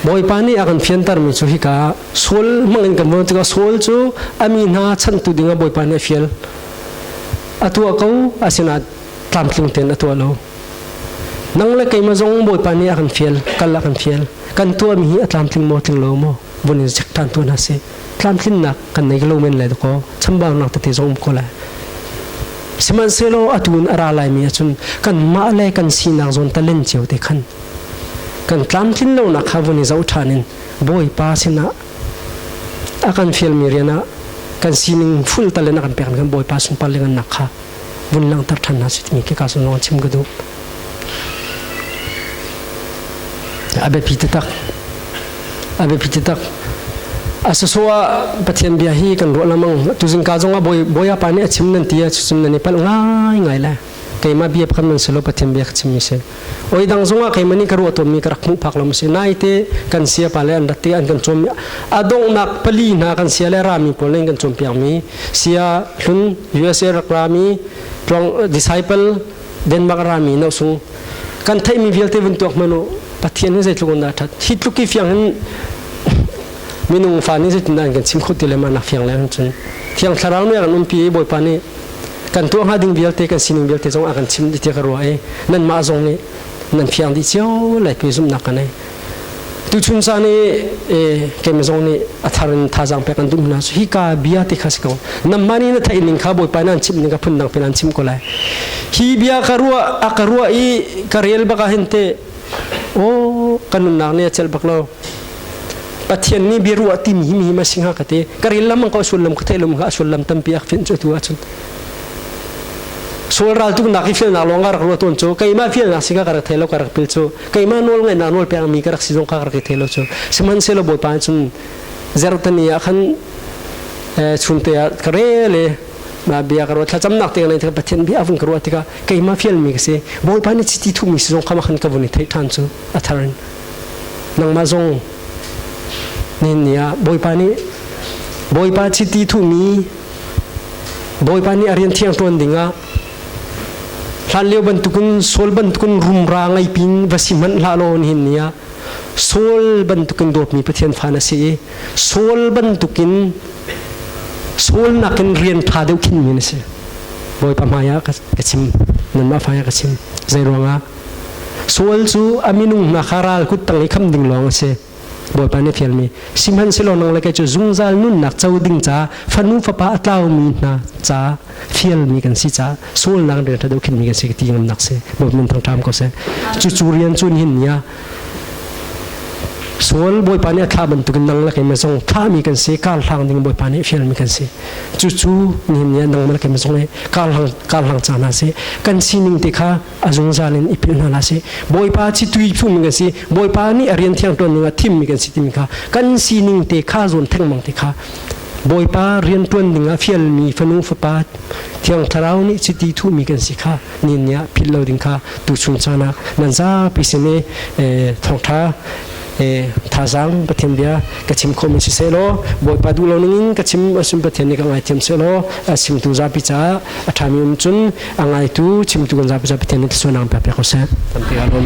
Bawipa nih a kan fiantermi cu hika sual hmang in kan von tikah sual cu a mi hna chantu dingah Bawipa nih a fial. A tuah ko, asinain tlamtling tein a tuah lo nang le keimah zong bawipa nih a kan fial kal a kan fial kan tuahmi hi a tlamtling maw tling lo maw vun in chek ṭhan tu hna si tlamtlinnak kan nei lo men le dakaw chambaunak tete zong ko lai sihmanhsehlaw atu in a ra laimi ahcun kan mah le kan sinak zawn talen cio te khan kan tlamtlin lonak kha vun i zoh ṭhan in bawipa sinah a kan fialmi rian ah kan sining full talen a kan pek kan bawipa sunpar le ngan nak kha vun langhter ṭhan hna si timi kika sun lawng chim ka duh a biapi taktak a biapi taktak a susu ah pathian bia hi kan ruah lamang tu zingka zong ah boya pa nih a chim nan ti a chim nan i pal ngai ngai le keimah bia phakam nan silo pathian bia ka chim mi si oi dang zong ah keimah nih ka ruah tuammi ka rak hmuh phak lo si naite kan sia pa le an rat te an kan cawm adongnak pali hna kan sia le rami pawl in kan cawm piakmi sia hlun USA rak rami tluang disciple Denmark rami no sung kan theimi vialte vun tuak manu pathian hi zeitluk on da that hi tluk ki fiang hin minung fa ni zetin an kan sim khut ti le ma nak fiang le hun chun thiang thlarau ne ran um pi boy pa ni kan tuah hnga ding vialte kan sining vialte zong a kan chim dih tiah ka ruah i nan mah zong nih nan fiang dih cio lai pe zumhnak ka nei tuchun caan i kemi zong nih a thar in thazang pek an dum hna su hi ka bia ti kha si ko namma ni na thai ning kha bawipa nan chim ning ka phun dang pin an chim ko lai hi bia ka ruah a ka ruah i ka rel baka hente Aw kan nunnak nih a celh bak lo. Pathian nih bia ruah ti mi hi mi ma si hnga ka ti. Ka ril lam ko sullam ka theilum ka sullam tampi ak fin cu tu ahcun. Sual ral tuknak i filnak lawng ka rak ruah tawn cu keimah filnak si ka ka rak thei lo ka rak pil cu keimah nawl ngaihnak nawl peng mi ka rak si zong ka rak i thei lo cu sihmanhsehlaw Bawipa cun zertani ah khan chunte ah ka rel i na bia ka ruat thlacam nak te lai thaka pathian bia avun ka ruat tika keima fial mi ka si bawipa ni chiti thu mi si zong khama khan ka vun i thei than chu atharin nangma zong ni nia bawipa ni bawipa chiti thu mi bawipa ni arian thiang tuan dingah hlan leo bantukin sol bantukin rumra ngai pin va si manh la lo hin nia sol bantukin dawp mi pathian fa na si i Saul bantukin Saul nakin rian ṭha deuh khinmi na si. Bawipa hmaiah ka chim, nanmah hmaiah ka chim. Zei ruangah? Saul cu a minung hna kha ral kut tang i kham ding lawng a si. Bawipa nih a fialmi, sihmanhsehlaw nang le kei cu zungzal nunnak co ding ca, fanu fapa a tlaumi hna ca, fialmi kan si caah sualnak rian ṭha deuh khinmi kan si ka ti ngamnak si. Bawipa min thangṭam ko seh. Cucu rian cu nihin ni ah Sual Bawipa nih a thlah bantukin nang lakin na zong thahmi kan si kar hlang ding Bawipa nih fialmi kan si cucu nihin ni ah nang lakin na zong le kar hlang kar hlang ca hna si kan sining te kha a zungzal in i philh hna si Bawipa citui phungmi kan si Bawipa nih a rian thiang ṭuan dingah thimmi kan si timi kha kan sining te kha zuan thengmang te kha Bawipa rianṭuan dingah fialmi fanu fapa Thiang Thlarau nih chiti thuhmi kan si kha nin nih ah philh lo ding kha tuchun sanak nan zapi sin i thawngṭha thazaang Pathian bia ka chim khawhmi si sehlaw Bawipa duh lo ningin ka chim asim Pathian nih ka ngaithiam sehlaw a chimtu zapi caah a ṭhami um cun a ngaitu chimtu kan zapi caah Pathian nih thluachuah nang pe ko seh. Tampi alawm.